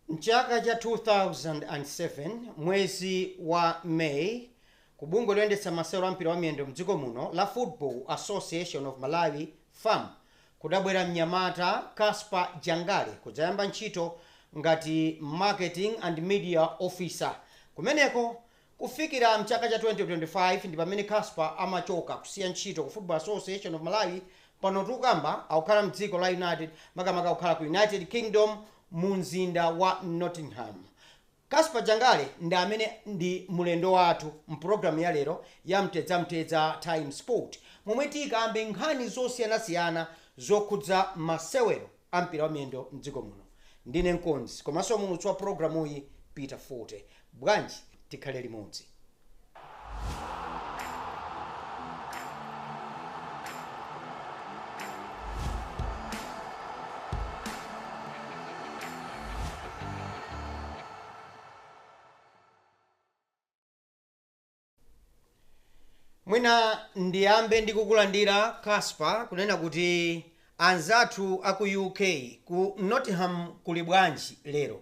M'chaka cha 2007, mwezi wa May, ku bungwe loyendetsa masewero a mpira wa miyendo m'dziko muno la Football Association of Malawi, FAM, Kudabwera mnyamata Casper Jangale kudzayamba ntchito ngati Marketing and Media Officer kumeneko. Kufikira mchaka cha 2025 ndi pamene Casper amachoka kusiya ntchito ku Football Association of Malawi. Pano tukukamba akukhala mdziko la United makamaka akukhala ku United Kingdom mu mzinda wa Nottingham. Casper Jangale ndi amene ndi mulendo wathu m'programu ya lero ya Mtedzamtedza Times Sport momwe tikambe nkhani zosiyanasiyana zokhudza masewero a mpira wa miyendo m'dziko muno. Ndine mkonzi komanso muulutsi wa programuyi Peter Fote. Bwanji tikhale limodzi? Mwina ndiyambe ndi kukulandira Casper kunena kuti anzathu aku UK ku Nottingham kuli bwanji lero?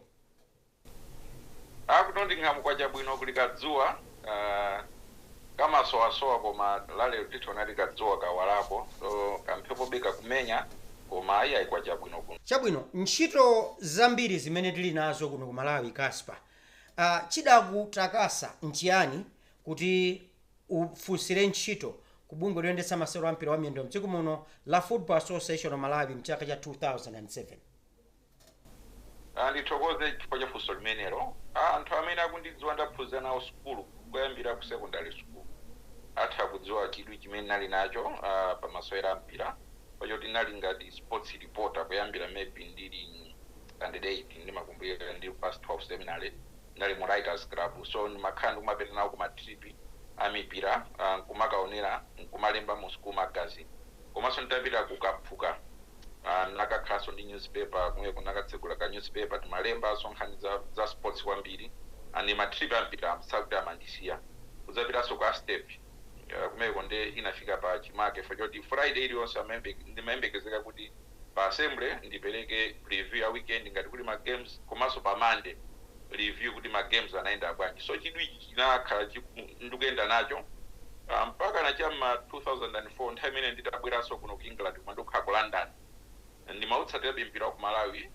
A ku Nottingham kwacha bwino kuli ka dzuwa aah kamasowasowa koma la lero tikuonadi ka dzuwa kawalako so ka mphepobe kakumenya koma ayi ayi kwacha bwino kuno. Chabwino ntchito zambiri zimene tili nazo kuno ku Malawi Casper aah chidakutakasa nchiyani kuti ufunsire ntchito ku bungwe loyendetsa masewero a mpira wa miyendo mdziko muno la Football Association of Malawi mchaka cha 2007? Ndithokoze chifukwa cha funso limenelo. Anthu amene akundidziwa ndaphunzira nawo sukulu kuyambira ku sekondale sukulu, atha kudziwa chidwi chimene ndinali nacho pa masewero a mpira chifukwa choti ndinali ngati sports reporter kuyambira maybe ndili standard 8 ndimakumbukira ndili ku Pius 12 seminary ndinali mu writers club so ndimakhala ndikumapita nawo ku ma trip a mipira nkumakaonera nkumalemba mu school magazine. Komanso nditapita ku Kaphuka, ah, ndinakakhalanso ndi newspaper kumweko, ndinakatsegula ka newspaper, timalembanso nkhani za, za sports kwambiri, and ma trip a mpira sikuti amandisiya, kudzapitanso ku Astep, ah, kumeko nde inafika pa chimake chifukwa choti Friday iliyonse amayembe, ndimayembekezeka kuti. Pa assembly ndipeleke preview ya weekend ngati kuti ma games komanso pa monday review kuti ma games anayenda bwanji so chidwi ichi chinakhala ndikuyenda nacho mpakana cha mma 2004 nthawi imene nditabweranso kuno ku England kumandikukhala ku London ndimautsatirabe mpira waku Malawi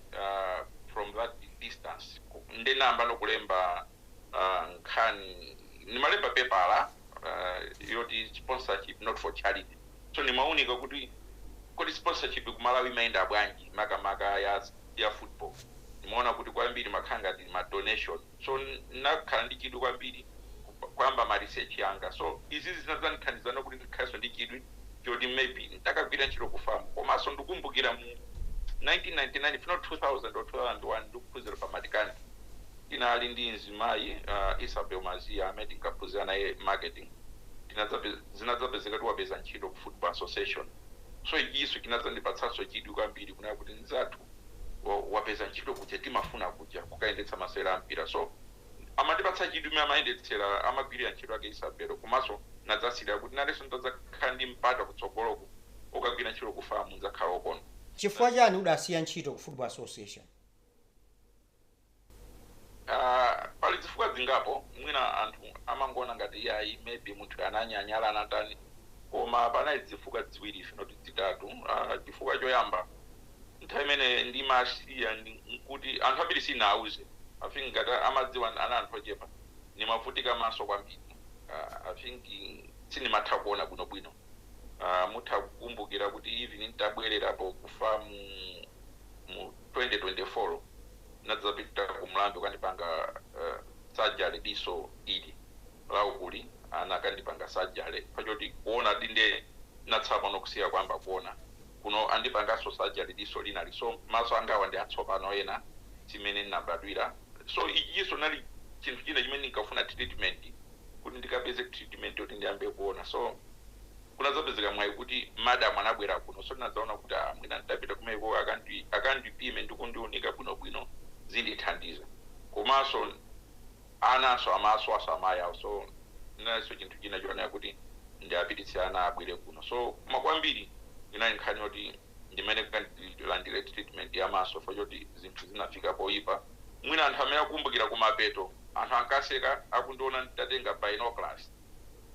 from that distance nde ndinayamba no kulemba nkhani ndimalemba pepala yoti sponsorship not for charity. So ndimaunika kuti kodi sponsorship kumalawi imayenda bwanji maka maka ya football ndimaona kuti kwambiri imakhala ngati ma donation so ndinakhala ndi chidwi kwambiri kuyamba ma research anga so izizi zinadzandithandizano kuti ndikhalenso ndi chidwi choti maybe ntakagwira ntchito ku fam komaso ndukumbukira mu 1999 if not 2000 or 2001 ndikuphunzira pa Marketing tinali ndi mzimayi Isabel Mazia amene tinkaphunzira naye marketing Zinadzapezeka kuti wapeza ntchito ku Football Association so ichinso chinadzandipatsanso chidwi kwambiri kunena kuti mzathu wapeza ntchito kuja timafuna kuja kukayendetsa masewera a mpira so amandipatsa chidwi mmene amayendetsera amagwirira ntchito yake Isabelo komanso nadzasilira kuti nanenso nditadzakhala ndi mpata kutsogoloku kukagwira ntchito ku fam ndzakhala okondwa. Chifukwa chani udasiya ntchito ku Football Association? Aaa pali dzifukwa dzingapo mwina anthu amangoona ngati iyayi maybe munthuyu ananyanyala anatani koma panali dzifukwa dziwiri if not dzitatu aah chifukwa choyamba nthawi imene ndimasiya nkuti anthu ambiri sindinawauze i think ngati amadziwa anali anthu ochepa ndimavutika maso kwambiri aah i think sindimatha kuona bwino bwino aah mutha kukumbukira kuti even ntabwelerapo ku fam mu 2024 ndinadzapita ku mlambe kukandipanga surgery diso ili la uku ili anakandipanga surgery chifukwa choti kuona dinde ndinatsala pang'ono kusiya kuyamba kuona kuno andipanganso surgery diso lina ili so maso angawa ndi atsopano aah simmene ndinabadwira so ichinso chinali chinthu china chimene ndinkafuna treatment kuti ndikapeze treatment yoti ndiyambe kuona so kunadzapezeka mwayi kuti madam anabwera kuno so tinadzaona kuti aah mwina nditapita kumaikoko akandi akandipime ndi kundiunika bwinobwino zindithandiza komanso ananso amasowanso amayi awo so chinalinso chinthu china chonena kuti ndiapititse ana abwere kuno so koma kwambiri inali nkhani yoti ine ndilandire treatment ya maso chifukwa choti zinthu zinafika poyipa mwina anthu amene akukumbukira kumapeto anthu ankaseka akundiona nditatenga binoculars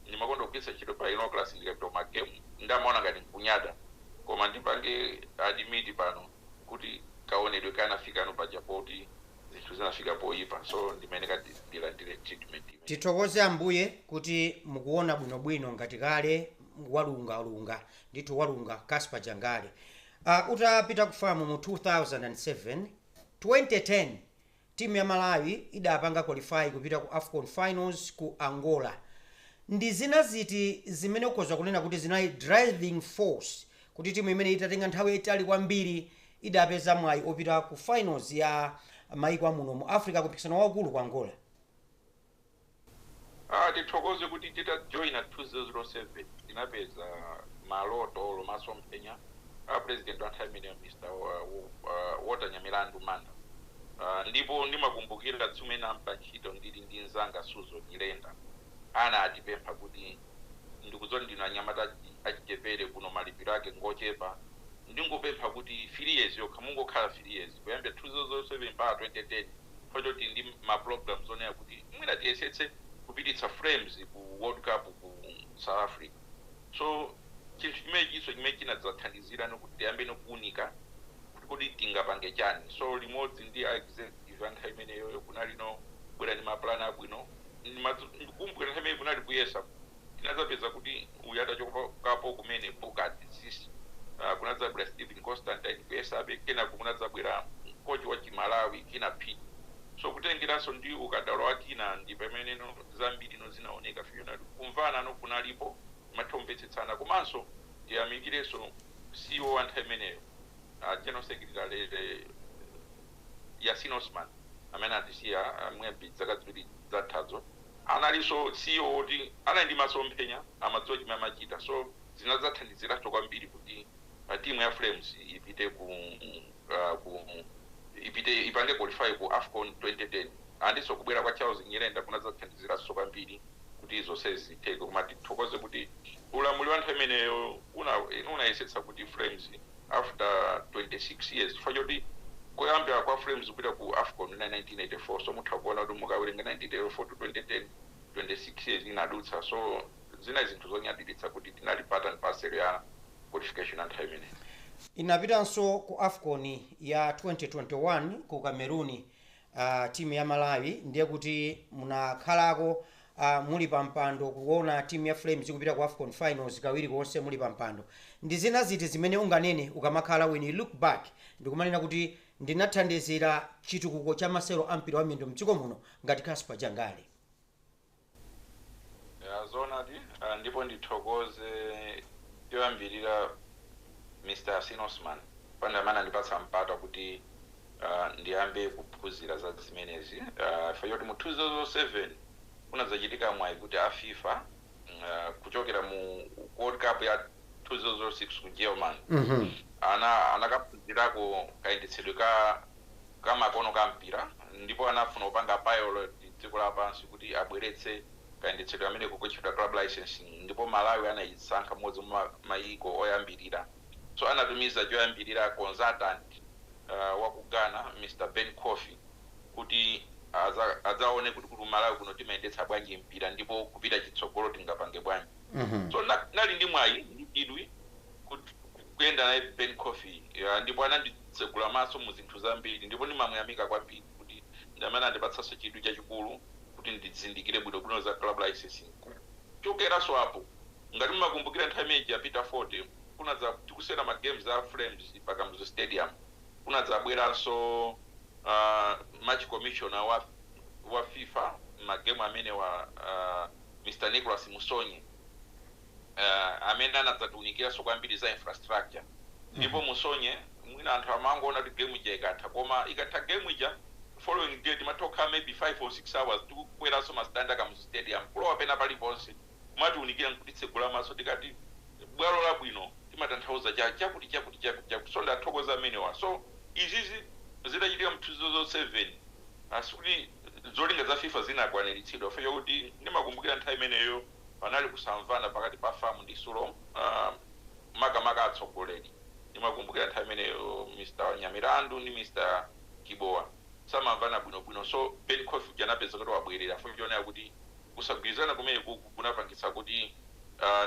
Ndimakonda kugwiritsa ntchito binoculars ndikapita ku ma game nde amaona ngati nkunyada koma ndipange admit pano kuti kaonedwe kanafikano paja poti zinthu zinafika poyipa so ndimayeneka ndilandire treatment imeneyi. Tithokoze Ambuye kuti mukuona bwino bwino ngati kale walunga lunga ndithu walunga Casper Jangale utapita ku FAM mu 2007, 2010 Timu ya Malawi idapanga qualify kupita ku afcon finals ku Angola. Ndi zina ziti zimene ukhoza kunena kuti zinali driving force kuti timu imeneyi itatenga nthawi yaitali kwambiri idapeza mwayi opita ku finals ya maiko a muno mu Africa ku mpikisano waukulu ku Angola? Aaa tithokoze kuti titajoina 2007 tinapeza maloto olo masomphenya a president wa nthawi imeneyo Mr Walter Nyamilandu Manda aah ndipo ndimakumbukila tsiku limene tinayamba ntchito ndili ndi nzanga Suzgo Nyirenda anatipempha kuti ndikudziwa kuti ndinu anyamata achichepele kuno malipilo ake ngochepa ndingopempha kuti 3 years yokha mungokhala 3 years kuyambila 2007 mpaka 2010 Chifukwa choti tili ndi ma programs onena kuti mwina tiyesetse kupititsa Flames ku world cup ku south africa so chinthu chimenechiso chimene chinadzathandizirano kuti tiyambeno kuunika kuti kodi tingapange chani so limodzi ndi a executive a nthawi imeneyoyo kunalino kubwera ndi ma plan abwino ndikumbukira nthawi imeneyo kunali kuyesa Tinadzapeza kuti uyo atachokapo kumene Burkhard Ziese, kunadzabwera Stephen Constantine kuyesabe, kenako kunadzabwera kochi wa chi Malawi, Kinnah Phiri. So kutengeranso ndi ukadaulo wa Kinnah ndi pameneno zambirino zinaoneka finally. Kumvanano kunalipo, timatha kumvetsetsana komanso tiyamikirenso CEO wa nthawi imeneyo, a General Secretary Yasin Osman amene anatisiya maybe zaka ziwiri zathazo. Analinso ceo woti anali ndi masomphenya amadziwa chimene amachita so zinadzathandiziranso kwambiri kuti team ya flames ipite ku ku ipite ipange qualify ku afcon 2010 andinso kubwera kwa charles nyirenda kunadzathandiziranso kwambiri kuti zonsezi zitheke koma tithokoze kuti ulamuliro wa nthawi imeneyo una unayesetsa kuti flames after 26 years chifukwa choti kuyambila kwa Flames kupita ku afcon inali 1984 so mutha kuona kuti mukawelenga 1984 to 2010 26 years inadutsa so zinali zinthu zonyadilitsa kuti tinali part and parcel ya qualification ya nthawi imeneyo. Inapitanso ku afcon ya 2021 ku Cameroon a team ya Malawi ndiye kuti munakhalako a muli pa mpando kuona team ya Flames kupita ku Afcon finals kawiri konse muli pa mpando ndi zina ziti zimene unganene ukamakhala when you look back ndikumanena kuti ndinathandizira chitukuko cha masewero a mpira wa miyendo mdziko muno ngati Casper Jangale Ya zoonadi ah, ndipo ndithokoze choyambirira Mr. Yasin Osman amene andipatsa mpata kuti ah, ndiyambe kuphunzira za zimenezi Ah, chifukwa choti mu 2007 kunadzachitika mwayi kuti a FIFA mm, ah, kuchokera mu World Cup ya 2006 ku Germany Mhm. ana anakaphunzirako kayendetsedwe ka kamakono ka mpira ndipo anafuna kupanga pilot dziko lapansi kuti abweretse kayendetsedwe kameneko kotchedwa club licensing ndipo Malawi anayisankha mmodzi mwa mayiko oyambilira so anatumiza choyambilira consultant wa ku Ghana Mr Ben Kofi kuti adzaone kuti ku Malawi kuno timayendetsa bwanji mpira ndipo kupita chitsogolo tingapange bwanji so ndinali ndi mwayi ndi chidwi kut kuyenda naye Ben Kofi eya ndipo ananditsegula maso mu zinthu zambiri ndipo ndimamuyamika kwambiri kuti ndi amene anandipatsanso chidwi chachikulu kuti ndizindikire bwino bwino za club licensing kuchokeranso apo ngati mumakumbukira nthawi imene ija Peter Phiri kunadza tikusewera ma games a Flames pa Kamuzu Stadium kunadzabweranso aah match commissioner wa wa fifa ma game amenewa aah Mr Nicholas Musonye uh, amene anadzatiunikiranso kwambiri za infrastructure ndipo musonye mwina anthu amangoona kuti game ija ikatha koma ikatha game ija following day timatha kukhala maybe 5 or 6 hours tikukweranso mastandi a Kamuzu Stadium kulowa pena paliponse kumatiunikira nkutitsegula maso tikati bwalo labwino timatanthauza cha chakuti chakuti chakuti chakuti so ndimathokoza amenewa so izizi zidachitika mu 2007 ah, sikuti zolinga za fifa zinakwaniritsidwa chifukwa chakuti ndimakumbukira nthawi imeneyo Panali kusamvana pakati pa fam ndi sulom makamaka atsogoleri. Ndimakumbukira nthawi imeneyo Mr Nyamilandu ndi Mr Chibowa samamvana bwino bwino so Ben Kofi uja anapezeka kuti wabwelera fukwa chonena kuti kusagwirizana kumenekuku kunapangitsa kuti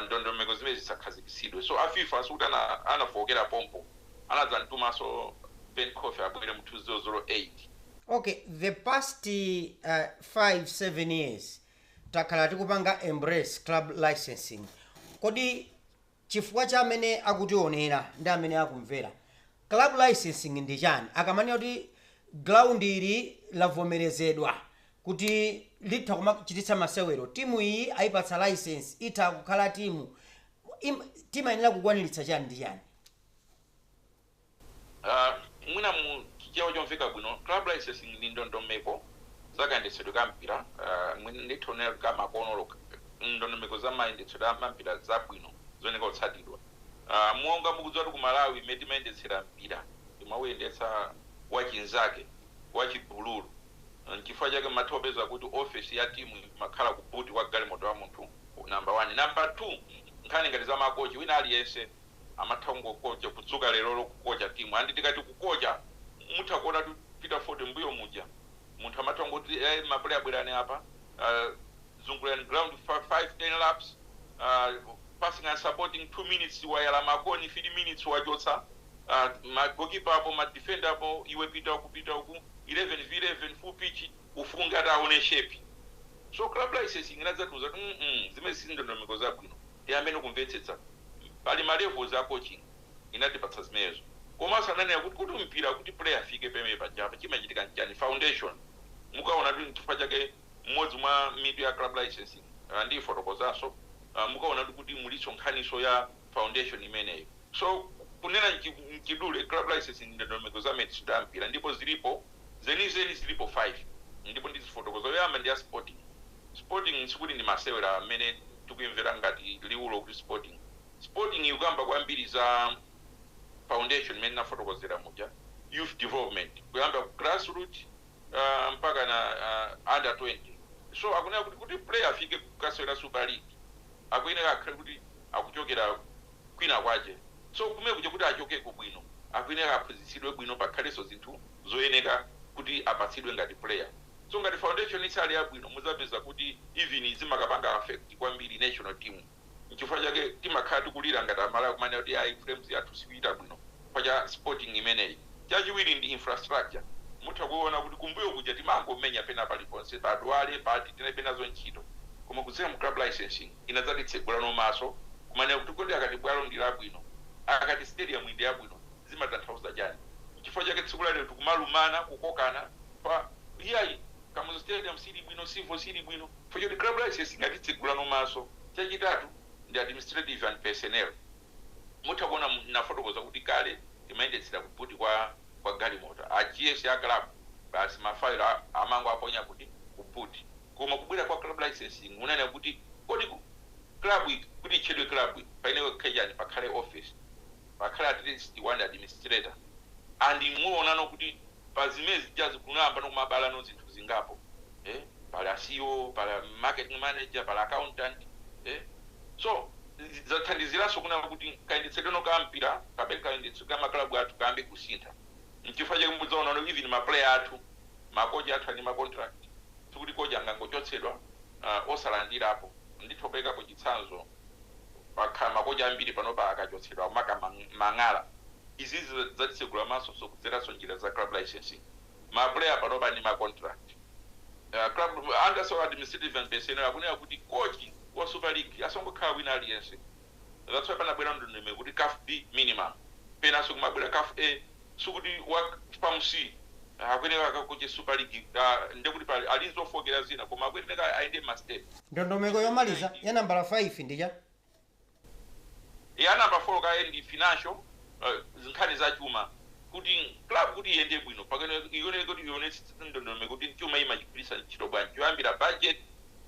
ndondomeko zimenezi zisakhazikitsidwe so a fifa sikuti anafookera pompo anadzamtumanso Ben Kofi abwere mu 2008. Okay the past 5 7 years takhala tikupanga embrace club licensing kodi chifukwa cha amene akutionera ndi amene akumvera club licensing ndi chani akamanena kuti ground ili lavomerezedwa kuti litha kumachititsa masewero timu iyi ayipatsa license itha kukhala timu Im- timayenera kukwaniritsa chani ndi chani Mwina mu chichewa chomveka bwino, club licensing ndi ndondomeko za kayendetsedwe ka mpira, mwina nditha kunena kuti ka makono olo ndondomeko za mayendetsedwe a mampira za bwino zoyeneka kutsatidwa. Monga mukudziwatu ku Malawi mmene timayendetsera mpira timawuyendetsa wachinzake, wachigulugulu. Nchifukwa chake mumatha kupeza kuti ofesi ya timu imakhala ku boot kwa galimoto wa munthu, number one. Number two, nkhani ngati za ma kochi, wina aliyense amatha kungokocha kudzuka lerolo kukocha timu and tikati kukocha mutha kuona kuti tikapita mbuyo muja munthu amatha kungoti ee ma player bwerani apa aah zungulirani ground 5 10 laps aah passing and supporting 2 minutes wayala makoni 3 minutes wachotsa aah ma goalkeeper apo ma defender apo iwe pita uku pita uku 11 v 11 full pitch ndikufuna tione shape so club licensing inadzatiuza kuti mm zimenezi si ndondomeko zabwino tiyambeni kumvetsetsa pali ma levels a coaching inatipatsa zimenezo komaso ananena kuti kuti mpira kuti player afike pamene pajapa chimachitika nchani foundation mukawona kuti nchifukwa chake mmodzi mwa mitu ya club licensing ndiyifotokozaso mukawona kuti muliso nkhaniso ya foundation imeneyo so kunena mchidule club licensing ndi ndondomeko za mayendetsedwe a mpira ndipo zilipo zenizeni zilipo 5 ndipo ndizifotokoza yoyamba ndi ya sporting Sporting sikuti ndi masewera mmene tikuimvera ngati liwulo kuti Sporting. Sporting ikukamba kwambiri za foundation imene ndinafotokozera muja, youth development kuyamba ku grassroot mpaka na under 20. So akunena kuti, kuti player afike kukasewera Supa ligi akuyenera akhale kuti akuchokera kwina kwache. So kumene kuja kuti achokeko bwino akuyenera aphunzitsidwe bwino pakhalenso zinthu zoyeneka kuti apatsidwe ngati player. So ngati foundation isali yabwino muzapeza kuti even zimakapanga affect kwambiri national team nchifukwa chake timakhala tikulira ngati amalawi kumanena kuti ayi flames yathu sikuchita bwino chifukwa cha sporting imeneyi. Chachiwiri ndi infrastructure mutha kuona kuti kumbuyo kuja timangomenya pena paliponse pa Dwale pati tinalibe nazo ntchito koma kudzera mu club licensing inadzatitsegulanso maso kumanena kuti kodi akati bwalo ndi labwino akati stadium ndi yabwino zimatanthauza chani nchifukwa chake tsiku la lero tikumalumana kukokana Kuti iyayi Kamuzu stadium sili bwino Civo sili bwino chifukwa choti club licensing yatitsegulanso maso chachitatu ndi administrative and personnel mutha kuona ndinafotokoza kuti kale timayendetsera ku boot kwa kwa galimoto a GS a club basi ma file amango aponya kuti ku boot koma kubwera kwa club licensing unanena kuti kodi club kuti itchedwe club payenera kukhala chani pakhale office pakhale at least one administrator and inu muonano kuti pa zimenezijazi kunayambano kumabalano zinthu zingapo ee pali a ceo pali a marketing manager pali accountant ee so zathandizilanso kunena kuti kayendetsedweno ka mpira kapena kayendetsedwe ka ma club athu kayambe kusintha nchifukwa chake mudzaonano even ma player athu makocha athu ali ndi ma contract sikuti coach angangochotsedwa osalandilapo nditha kupereka chitsanzo pakhala makocha ambiri panopa akachotsedwa akumaka mang'ala izizi zatitsegula maso so kudzeranso njira za club licensing ma player panopa ali ndi ma contract a club under so administrative and personnel akunena kuti coach wa super league asangokhala wina aliyense that's why panabwera ndondomeko kuti caf B minimum penanso kumabwera caf A sikuti wa FAM C akuyenera akakoche super league ka ndekuti pali ali nzofokera zina koma akuyenera ayende mma step. Ndondomeko yomaliza ya nambala 5 ndi cha? Ya number 4 kaye ndi financial nkhani za chuma kuti club kuti iyende bwino pakuyenera ikuyenera kuti ionetse ndondomeko kuti chuma imachigwiritsa ntchito bwanji choyambira budget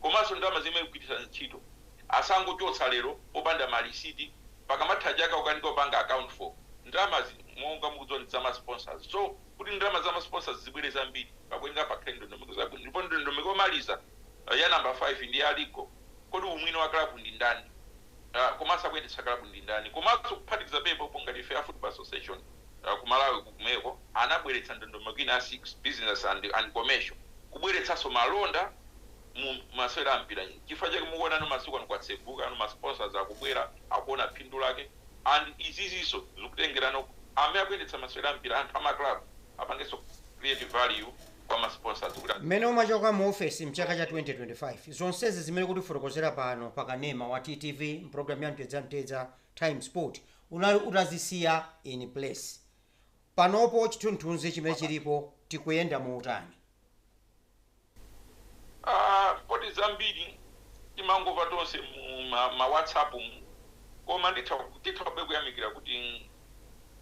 komanso ndalama zimene ikugwiritsa ntchito. Asangochotsa lero popanda ma receipt pakamatha chaka kukanika kupanga account for. Ndalamazi monga mukudziwa ndi zama sponsors so kuti ndalama zama sponsors zibwere zambiri pakuyenera pakhale ndondomeko zabwino ndipo ndondomeko yomaliza ya number 5 ndi ya legal kodi umwini wa club ndi ndani komanso akuyendetsa club ndi ndani komanso kuphatikiza pompopo ngati ife a football association ku Malawi kukumeko anabweretsa ndondomeko ina ya 6 business and and commercial kubweretsanso malonda mu masewera a mpira nchifukwa chake mukuonano masiku ano kwatsegukano ma sponsors akubwera akuona phindu lake and iziziso zikutengerano amene akuyendetsa masewera a mpira anthu a ma club apangenso create value kwa ma sponsors kuti Mmene umachoka mu ofesi mchaka cha 2025, zonsezi zimene ukutifotokozera pano pa kanema wa TTV mpulogalamu ya Mtedzamtedza Time Sport unali utazisiya in place. Panopo chithunzithunzi chimene chilipo tikuyenda motani? Aaa poti zambiri timangomva tonse mu ma ma whatsapp mu koma nditha tithabe kuyamikira kuti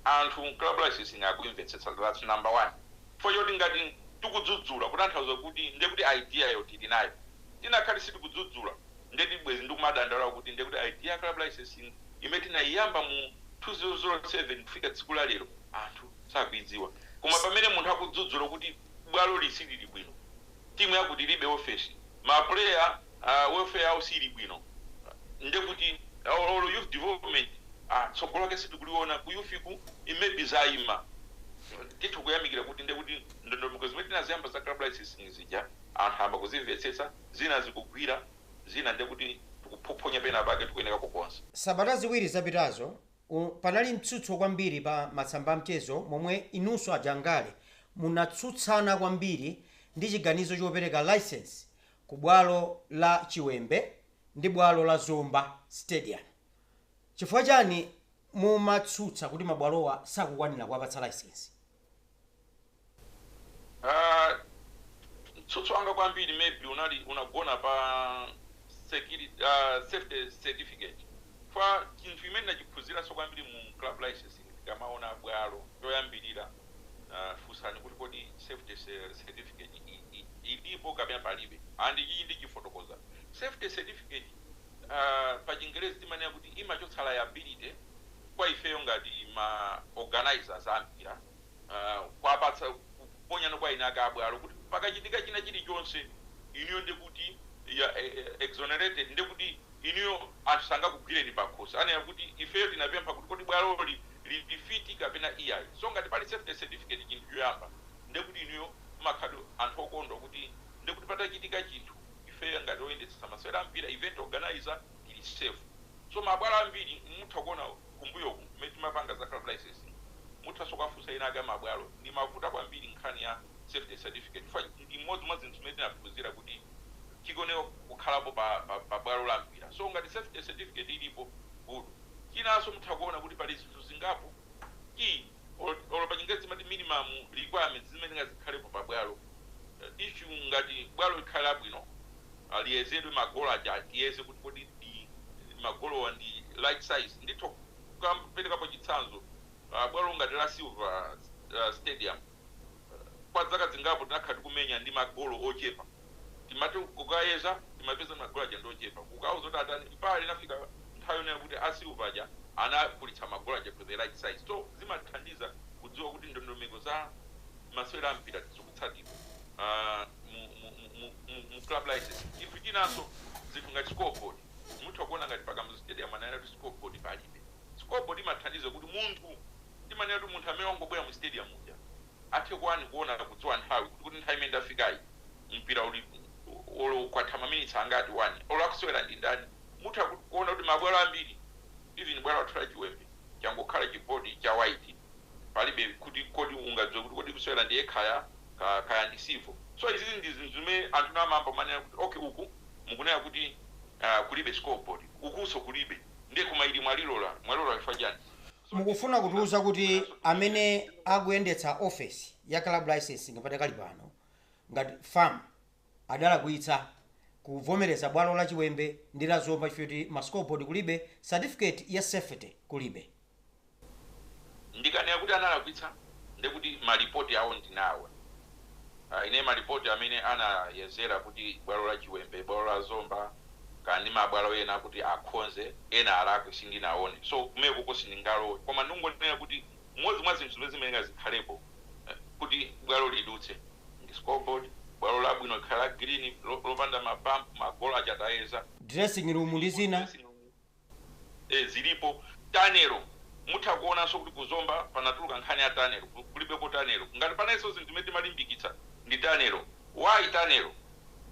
anthu club licensing akuimvetsetsa thats number one chifukwa choti ngati tikudzudzula kutanthauza kuti ndiye kuti idea yo tili nayo tikanakhala sitikudzudzula ndiye kuti bwezi ndikumadandaula kuti ndiye kuti idea ya club licensing imene tinaiyamba mu 2007 kufika tsiku la lero anthu sakuidziwa koma pamene munthu akudzudzula kuti bwaloli silili bwino, timu yakuti ilibe office, ma player aah welfare yawo siili bwino ndekuti or youth development aah tsogolo lake sitikuliona ku youth ku it may be zaima. Titha kuyamikira kuti ndekuti ndondomeko zimene tinaziyamba za club licensing zija anthu ayamba kuzimvetsetsa, zina zikugwira zina ndekuti tikuphophonya penapake tikuyeneka kukonza. Sabata ziwiri zapitazo, o, panali mtsutso kwambiri pa masamba amchezo momwe inunso a Jangale munatsutsana kwambiri ndi chiganizo chopereka licence ku bwalo la Chiwembe ndi bwalo la Zomba stadium. Chifukwa chani mumatsutsa kuti mabwalowa sakukwanira kuwapatsa licence? Ah mtsutso wanga kwambiri maybe unagona pa security ah safety certificate chifukwa chinthu chimene ndinachiphunziranso kwambiri mu club licensing tikamaona bwalo choyambirira ah funsani kuti kodi safety ce- certificate i- i- ilipo kapena palibe and ichi ndichifotokoza safety certificate ah pa chingerezi timanena kuti imachotsa liability kwa ifeyo ngati ma organisers a mpira kwapatsa kuponyano kwa eni ake a bwalo kuti pakachitika china chilichonse inuyo ndekuti you are exonerated ndekuti inuyo anthu sangakugwireni pakhosi anena kuti ifeyo tinapempha kuti kodi bwaloli lili fiti kapena iyayi so ngati pali safety certificate chinthu choyamba ndekuti inuyo mmakhala anthu okondwa kuti ndekuti patachitika chinthu ifeyo ngati oyendetsetsa masewera a mpira event organiser ili safe so mabwalo ambiri mutha kuona kumbuyoku mmene timapanga za club licensing muthanso kukafunsa ena ake amabwalo ndimavuta kwambiri nkhani ya safety certificate chifukwa ndi imodzi mwa zinthu zimene tinaphunzira kuti chikuoneka kukhalapo pa pa bwalo la mpira so ngati safety certificate ilipo good chinanso mutha kuona kuti pali zinthu zingapo ki or or pa chingerezi timati minimum requirements zimene nga zikhalepo pa bwalo issue ngati bwalo likhale labwino liyezedwe magolo aja tiyeze kuti kodi magolowa ndi right size nditha kukuperekapo chitsanzo uh, bwalo ngati la silver uh, stadium uh, kwa zaka zingapo tinakhala tikumenya ndi magolo ochepa Timati kukayeza timapeza magolo aja ndi ochepa, kukauza kuti atani mpaka inafika nthawi yonena kuti a Silver aja anakulitsa magolo aja to the right size. So zimathandiza kudziwa kuti ndondomeko za masewera a mpira zikutsatidwa mu club licensing. Chinthu chinanso zinthu ngati scoreboard, mutha kuona ngati pa Kamuzu Stadium ananena kuti scoreboard palibe. Scoreboard imathandiza kuti munthu timanena kuti munthu amene wangobwera mu stadium muja, athe kutani kuona kudziwa nthawi kuti kuti nthawi imene ndafikayi mpira uli olo kwatha maminitsi angati wani olo akusewera ndi ndani mutha kut kuona kuti mabwalo ambiri even bwalo lathu la chiwembe changokhala chi board cha white palibe kuti kodi ungadziwe kuti kodi kusewera ndi ekhaya ka kaya ndi civil so izizi ndi zinthu zimene anthu ena amayamba kumanena kuti okay uku mukunena kuti aah kulibe scoreboard ukunso kulibe ndiye koma ili mwalilola mwalilola chifukwa chani? Mukufuna kutiuza kuti amene akuyendetsa office ya club licensing padakali pano ngati FAM adalakwitsa kuvomereza bwalo la Chiwembe ndi la Zomba chifukwa choti ma scoreboard kulibe, certificate ya safety kulibe? Ndikanena kuti analakwitsa ndekuti ma report awo ndinawo. Ine malipoti amene anayezera kuti bwalo la Chiwembe, bwalo la Zomba kaya ndi ma bwalo ena kuti akhonze, ena alakwe sindinaone. So kumeneko sindingalowe koma ndingonena kuti mmodzi mwa zinthu zimene zimayenera zikhalepo kuti bwalo lidutse ndi scoreboard, bwalo labwino likhale la green, lopanda ma bump, ma goal aja tayeza, dressing room ndi zina ee zilipo tunnel mutha kuonanso kuti ku Zomba panatuluka nkhani ya tunnel kulibeko tunnel ngati panalinso zinthu zimene timalimbikitsa ndi tunnel why tunnel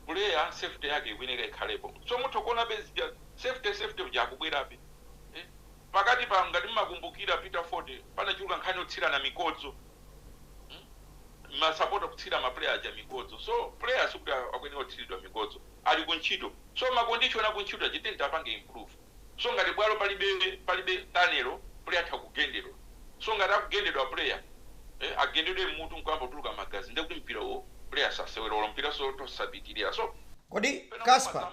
player safety yake ikuyeneka ikhalepo so mutha kuonabe zija safety ija ikubwerabe ee pakati pa ngati mmakumbukira Peter Fote panachuluka nkhani yotsirana mikodzo mm? masapota kutsira mapuleya aja mikodzo so puleya sikuti akuyenera kutsiridwa mikodzo ali kuntchito So ma condition akuntchito aja ayeneka apange improve so ngati bwalo palibe tunnel player atha kugendedwa so ngati akugendedwa player eh agendedwe mmutu nkuyamba kutuluka magazi nde kuti mpirawo player sasewera olo mpiranso utha osapitilira so Kodi Casper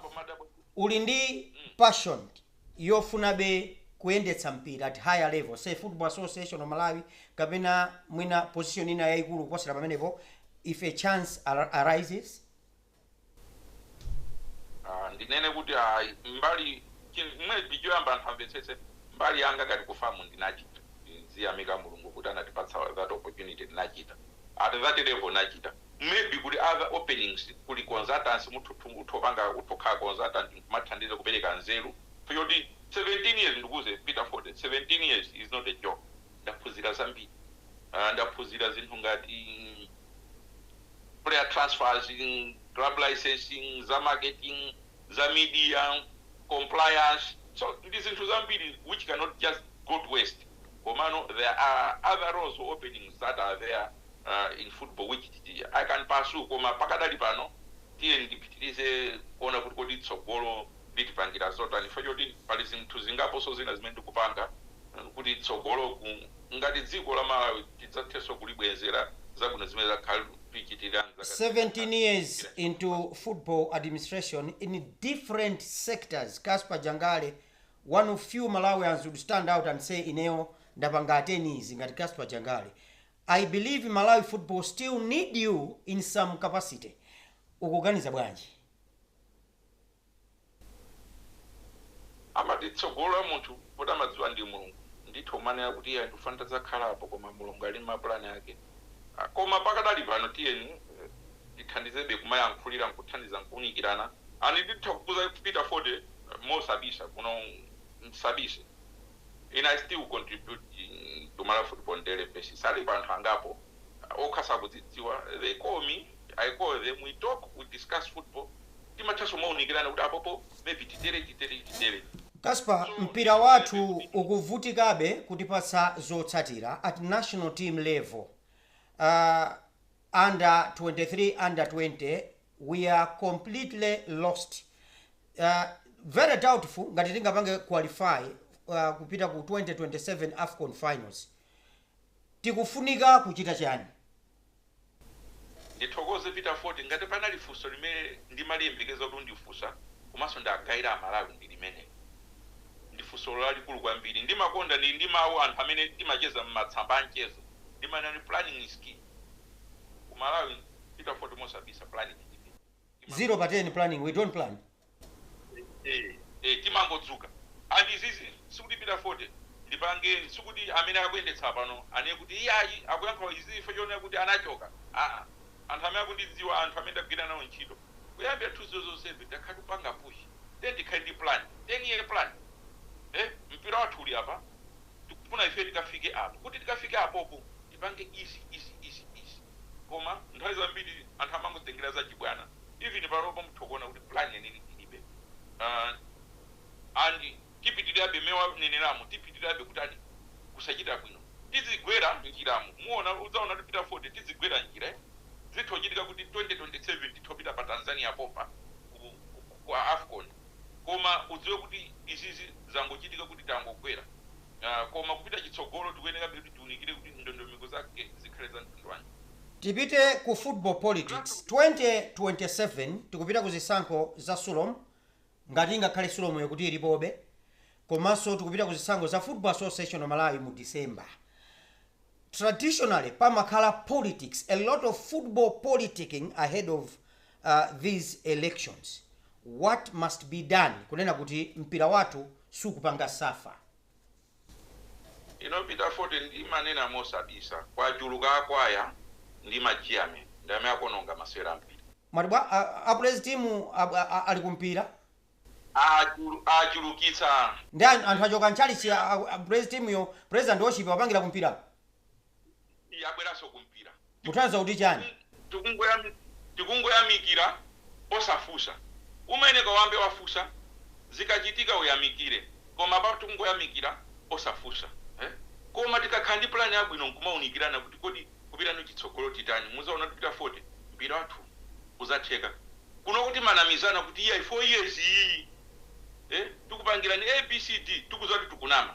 uli ndi passion yofunabe kuyendetsa mpira at higher level say Football Association of Malawi kapena mwina position ina yaikulu kuposera pamenepo if a chance arises? Ah, ndinene kuti mbali chi- mwina choyamba anthu amvetsetse mbali yanga ngati ku FAM ndinachita ndiziyamika Mulungu kuti anatipatsa that opportunity ndinachita at that level ndachita maybe kuli other openings kuli consultants utha kupanga utha kukhala consultant nkumathandiza kupereka nzeru chifukwa choti 17 years ndikuuze Peter Fote 17 years is not a joke ndaphunzira zambiri Ah, ndaphunzira zinthu ngati player transfers, club licensing, za marketing, za media, compliance, so ndi zinthu zambiri which cannot just go to waste komano there are other roles or openings that are there uh, in football which I can pursue koma pakadali pano tiyeni ndipitirize kuona kuti kodi tsogolo litipangira zotani chifukwa choti pali zinthu zingaponso zina zimene ndikupanga uh, kuti tsogolo Ngati dziko la Malawi tidzathenso kulibwezera zabwino zimene lakhala likutichitira. 17 years into football administration in different sectors, Casper Jangale one of few Malawians would stand out and say ineyo ndapanga attend izi ngati Casper Jangale. I believe Malawi football still need you in some capacity. Ukuganiza bwanji? Amati tsogolo la munthu poti amadziwa ndi mulungu ndithu umanena kuti iyayi ndikufuna ntadzakhala apo koma mulungu ali ndi ma plan ake koma pakadali pano tiyeni tithandizebe kumayankhulira nkuthandiza nkuunikirana and nditha kukuuza Peter Fote mosabisa kuno msabise. Ine I still contribute to Malawi football on daily basis alipo anthu angapo okha sakudzidziwa they call me I call them we talk we discuss football timathanso kumaunikirana kuti apopo maybe titere titere titere. Casper, mpira wathu ukuvutikabe kutipatsa zotsatira at national team level, uh, under 23, under 20 we are completely lost uh, very doubtful ngati tingapange qualify uh, kupita ku 2027 afcon finals tikufunika kuchita chani ndithokoze Peter Fote ngati panali funso limene ndimaliyembekeza kuti undifunsa komanso ndagayira amalawi ndi limeneli ndi funso lalikulu kwambiri ndimakonda ndi ndi mawu anthu amene timacheza m'matsamba a mchezo ndimanena planning is key Ku Malawi Peter Fote mosabisa planning ilibe. Timangodzuka. 0 pa 10 planning we don't plan. Eeh eeh timangodzuka and izizi sikuti Peter Fote ndipange sikuti amene akuyendetsa pano anene kuti iyayi akuyankha izi chifukwa chonena kuti anachoka aah anthu amene akundidziwa anthu amene ndagwira nawo ntchito kuyambira 2007 takhala tikupanga push tiyeni tikhale ndi plan 10 year plan eeh mpira wathu uli apa. tikufuna ife tikafike apo. Kuti tikafike apopo, tipange izi, izi, izi, izi. Koma, nthawi zambiri, anthu amangotengera zachibwana. Even panopa mutha kuona kuti plan yeniyeni tilibe. Uh, and tipitirirabe mmene waneneramo, tipitirirabe kutani? Kusachita bwino. Tidzigwera m'njiramo. Muona, udzaona kuti Peter Fote, tidzigwera m'njira, eh? Zitha kuchitika kuti 2027 titha kupita pa Tanzania pompa ku, ku, ku, ku Afcon. koma udziwe kuti izizi zangochitika kuti tangogwera uh, koma kupita chitsogolo tikuyenekabe kuti tiunikire kuti ndondomeko zake zikhale za mtundu wanji Tipite ku football politics 2027 tikupita ku zisankho za sulom ngati ingakhale sulom yokuti ilipobe komanso tikupita ku zisankho za football association of malawi mu december traditionally pamakhala politics a lot of football politicking ahead of these elections what must be done kunena kuti mpira wathu sukupanga suffer. You know Peter Fote ndimanena mosabisa kwachuluka akwaya ndi ma chairman ndi amene akononga masewera ampira. Mwati bwa a praise team ali ku mpira? Achulukitsa. Nde anthu achoka ntchalitchi a praise team yo praise and worship wapangira ku mpira? yabweranso ku mpira. Mutanthauza kuti chani? Tikungoyamikira osafusa mmene Kawambe wafusa zikachitika uyamikire koma apapa tikungoyamikira osafusa eh koma tikakhala ndi plan yabwino nkumaunikirana kuti kodi kupitani chitsogolo titani muzaona kuti Peter Fote mpira wathu uzatheka kunoko timanamizana kuti iyayi 4 years iyiyi eh tikupangirani abcd tikuziwa kuti tikunama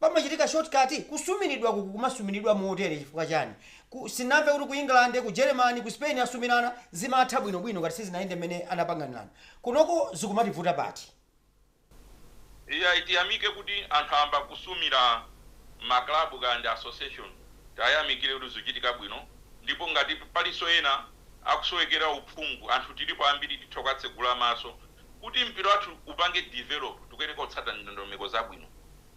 pamachitika shortcut? Kusumiridwa ku kumasumiridwa motere chifukwa chani? Sinamve kuti ku England, ku Germany, ku Spain asumirana zimatha bwino bwino ngati sizinayende mmene anapanganirana. Kunoko zikumativuta pati? Iyayi tiyamike kuti anthu ayamba kusumira ma club kaya ndi association tiayamikire kuti zikuchitika bwino ndipo ngati palinso ena akusowekera uphungu anthu tilipo ambiri titha kuwatsegula maso kuti mpira wathu upange develop tikuyeneka kutsata ndondomeko zabwino.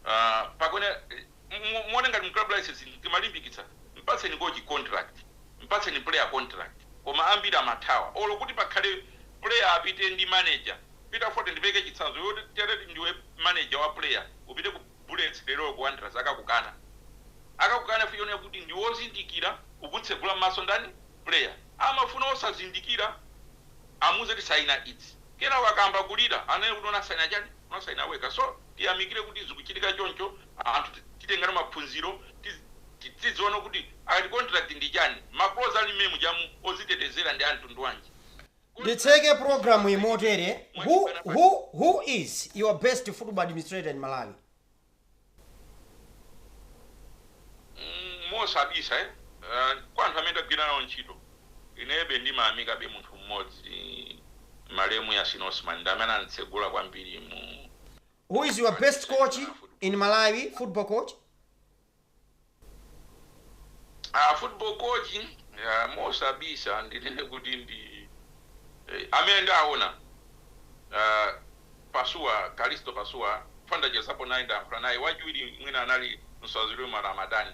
Aaa pakuyenera mu muone ngati mu club licensing timalimbikitsa mpatseni kochi contract mpatseni player contract koma ambiri amathawa olo kuti pakhale player apite ndi manager Peter Fote ndipeleke chitsanzo iwe uti tere ndiwe manager wa player upite ku Bullets lero olo ku Wanderers akakukana akakukana chifukwa chonena kuti ndiwe ozindikira ukutsegula mmaso ndani player amafuna osazindikira amuuze kuti saina izi kenako akayamba kulira anene kuti unasaina chani unasaina wekha so tiyamikire kuti zikuchitika choncho, anthu titenge nawo maphunziro, tidziwe nawo kuti akati contract ndi chani, ma clause ali m'mene mujamu ozitetezera ndi a mtundu wanji, Nditseke programu yi motere, who is your best football administrator in Malawi? mm, mosabisa eh? uh, kwa anthu amene tagwira nawo ntchito. Inebe ndimayamikabe munthu mmodzi malemu Yasin Osman ndi amene ananditsegula kwambiri mu. Who is your best coach in Malawi, football coach? Ah, football coach ah, mosabisa ndinene kuti ndi eh, amene ndaona ah, Pasuwa Kalisto Pasuwa chifukwa ndachezapo naye ndayankhula naye, wachiwiri mwina anali Nsanzurwimo Ramadhan.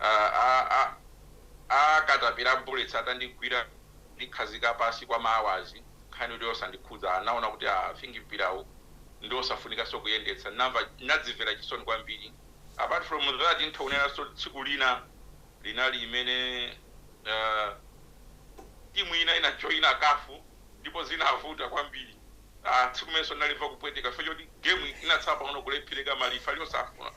Aaa aa akatapila Bullets atandigwira kundikhazika pansi kwa ma hours nkhani yoti osandikhudza ndinaona kuti aa i think mpirawu ndiosafunikanso kuyendetsa ndinadzimvera chisoni kwambiri apart from that nditha kunenanso tsiku lina linali limene aah team ina inajoina CAF ndipo zinavuta kwambiri. Aaa tsiku limenenso ndinalimva kupweteka chifukwa choti game inatsala pang'ono kulephereka ma lifali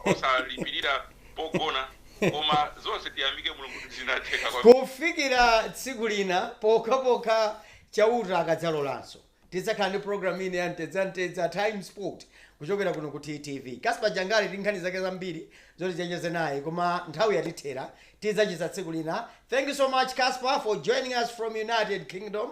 osalipilira pogona koma zonse tiyamike mulungu zinatheka. Kufikira tsiku lina pokhapokha Chauta akadzalolanso, tidzakhala ndi programme ina ya Mchezamcheza Times Sport kuchokera kuno ku TTV. Casper Jangale ali ndi nkhani zake zambiri zoti tidzacheze naye koma nthawi yatithera, tidzacheza tsiku lina. Thank you so much Casper for joining us from United Kingdom.